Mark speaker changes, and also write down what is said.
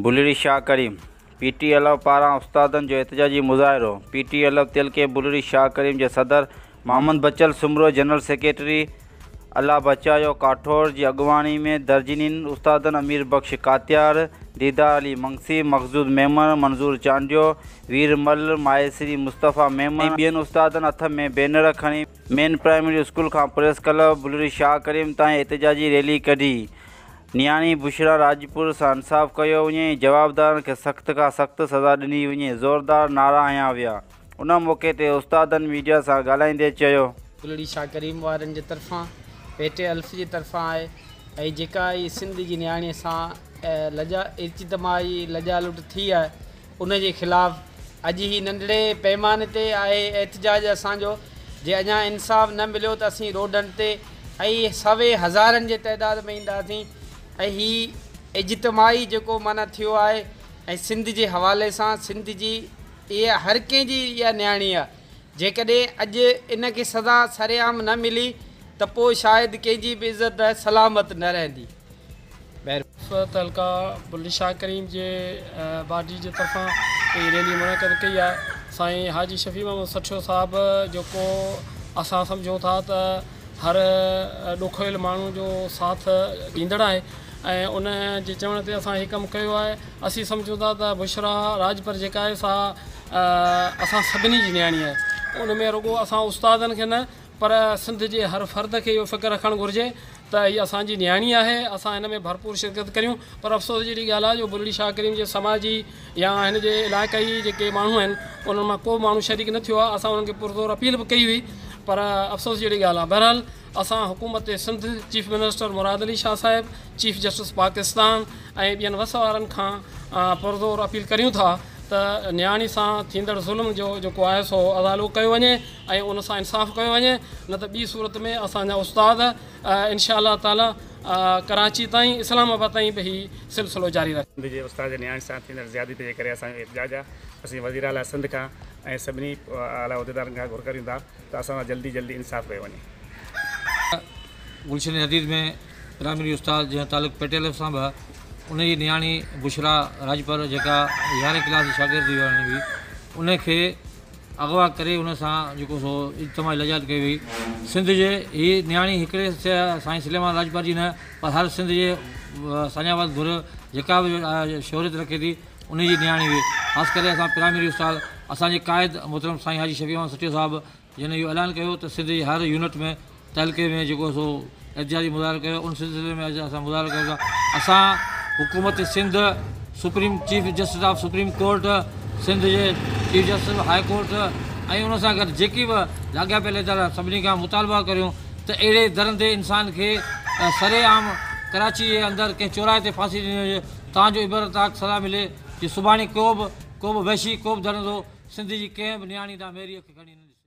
Speaker 1: Bulri Shah Karim P T L پاران استادن جو احتجاجي مظاهرو پي ٽي ايل تيلڪي بلڙي شاهه ڪريم جي صدر محمد بچل سومرو جنرل سيڪريٽري، الله بچايو ڪاٺوڙ، جي اڳواڻي ۾ درجنين استادن امير بخش ڪاتيار، ديدار علي منگسي، مخضود ميمڻ، منظور چانڊيو، وير مل، مائيسري مصطفيٰ ميمڻ ۽ ٻين استادن هٿ ۾ بينر کڻي، مين پرائمري اسڪول کان پريس ڪلب بلوري شاهه ڪريم تائين احتجاجي ريلي ڪڍي، نياڻي بشريٰ راڄپر سان انصاف ڪيو وڃي ۽ جوابدارن کي سخت کان سخت سزا ڏني وڃي زوردار نعرا هنيا ويا. ان موقعي تي استادن ميڊيا سان ڳالهائيندي چيو. گلڙي شاهه ڪريم
Speaker 2: وارن جي طرفان ڀيٽي الف جي طرفان آهي ۽ جيڪا هي سنڌ جي نياڻي سان لڄا ارچيتمائي لڄا لٽ ٿي آهي ان جي خلاف اڄ هي ننڍڙي پئماني تي آهي احتجاج اسان جو جي اڃا انصاف نه مليو ته اسين روڊن تي ۽ سوين هزارن جي تعداد ۾ اينداسين ۽ هي اجتمائي جيڪو معنيٰ ٿيو آهي ۽ سنڌ جي حوالي سان سنڌ جي اها هر ڪنهن جي اها نياڻي آ. جيڪڏهن اڄ ان کي سزا سرعام نه ملي ته پوء شايد ڪنهن جي به عزت سلامت نه رهندي. مهرباني. صوت حلقه
Speaker 3: بلي شاهه ڪريم جي باڊي جي طرفان هي ريلي منعقد ڪئي آهي سائين حاجي شفيع محمد سٺيو صاحب جيڪو اسان سمجهون ٿا ته هر ڏکويل ماڻهو جو ساٿ ڏيندڙ آهي ۽ ان جي چوڻ تي اسان هي ڪم ڪيو آهي اسين سمجهون ٿا ته بشريٰ راڄپر جيڪا آهي سا اسان سڀني جي نياڻي آهي ان ۾ رڳو اسان استادن کي نه پر سنڌ جي هر فرد کي اهو فڪر رکڻ گهرجي ته هي اسان جي نياڻي آهي اسان هن ۾ ڀرپور شرڪت ڪريون پر افسوس جهڙي ڳالهه آهي جو بلڙي شاهه ڪريم جي سماجي يا هن جي علائقائي جيڪي ماڻهو آهن انهن مان ڪو به ماڻهو شريڪ نه ٿيو آهي اسان انهن کي پرزور اپيل به ڪئي هئي پر افسوس جهڙي ڳالهه آهي بهرحال اسان حڪومت سنڌ، چيف منسٽر مراد علي شاهه صاحب، چيف جسٽس پاڪستان ۽ ٻين وس وارن کان پرزور اپيل ڪريون ٿا ته نياڻي سان ٿيندڙ ظلم جو جيڪو آهي سو ازالو ڪيو وڃي ۽ ان سان انصاف ڪيو وڃي نه ته ٻي صورت ۾ اسان جا استاد انشاء الله تعالي ڪراچي تائين اسلام آباد تائين به هي سلسلو جاري رکن. سنڌ جي استاد جي نياڻي سان
Speaker 4: ٿيندڙ زيادتي جي ڪري اسان جو احتجاج آهي، اسين وزيراعليٰ سنڌ کان ۽ سڀني اعليٰ عهديدارن کان گهر ڪريون ٿا ته اسان سان جلدي جلدي انصاف ڪيو وڃي.
Speaker 5: گلشن حديد ۾ پرائمري استاد جنهن تعلق پيٽيل سان به آهي ان جي نياڻي بشريٰ راڄپر جيڪا يارهين ڪلاس جي شاگرد هئي هاڻي هئي ان کي اغوا ڪري ان سان جيڪو سو اجتماعي لڄات ڪئي وئي سنڌ جي هي نياڻي هڪڙي سائين سليمان راڄپر جي نه پر هر سنڌ جي ساڃاهه واري ڌر جيڪا به شهريت رکي ٿي انهيء جي نياڻي هئي. خاص ڪري اسان پرائمري استاد، اسان جي قائد محترم سائين حاجي شفيع احمد سٺيو صاحب جنهن اهو اعلان ڪيو ته سنڌ جي هر يونٽ ۾ تعلقي ۾ جيڪو سو احتجاجي مظاهرو ڪيو ان سلسلي ۾ اڄ اسان مظاهرو ڪيو ٿا. اسان حڪومت Sindh, supreme chief justice of supreme court, Sindh جي chief justice of high court ۽ ان سان گڏ جيڪي به لاڳاپيل ادارا سڀني کان مطالبه ڪريون ته اهڙي درندي انسان کي سري عام ڪراچي جي اندر ڪنهن چوراهي تي ڦاسي ڏني وڃي. تان جو عبرت ناڪ سزا ملي جي سڀاڻي ڪو به ڪو به وحشي ڪو به درندو سنڌ جي ڪنهن به نياڻي ڏانهن ميري اک کڻي نه ڏسي.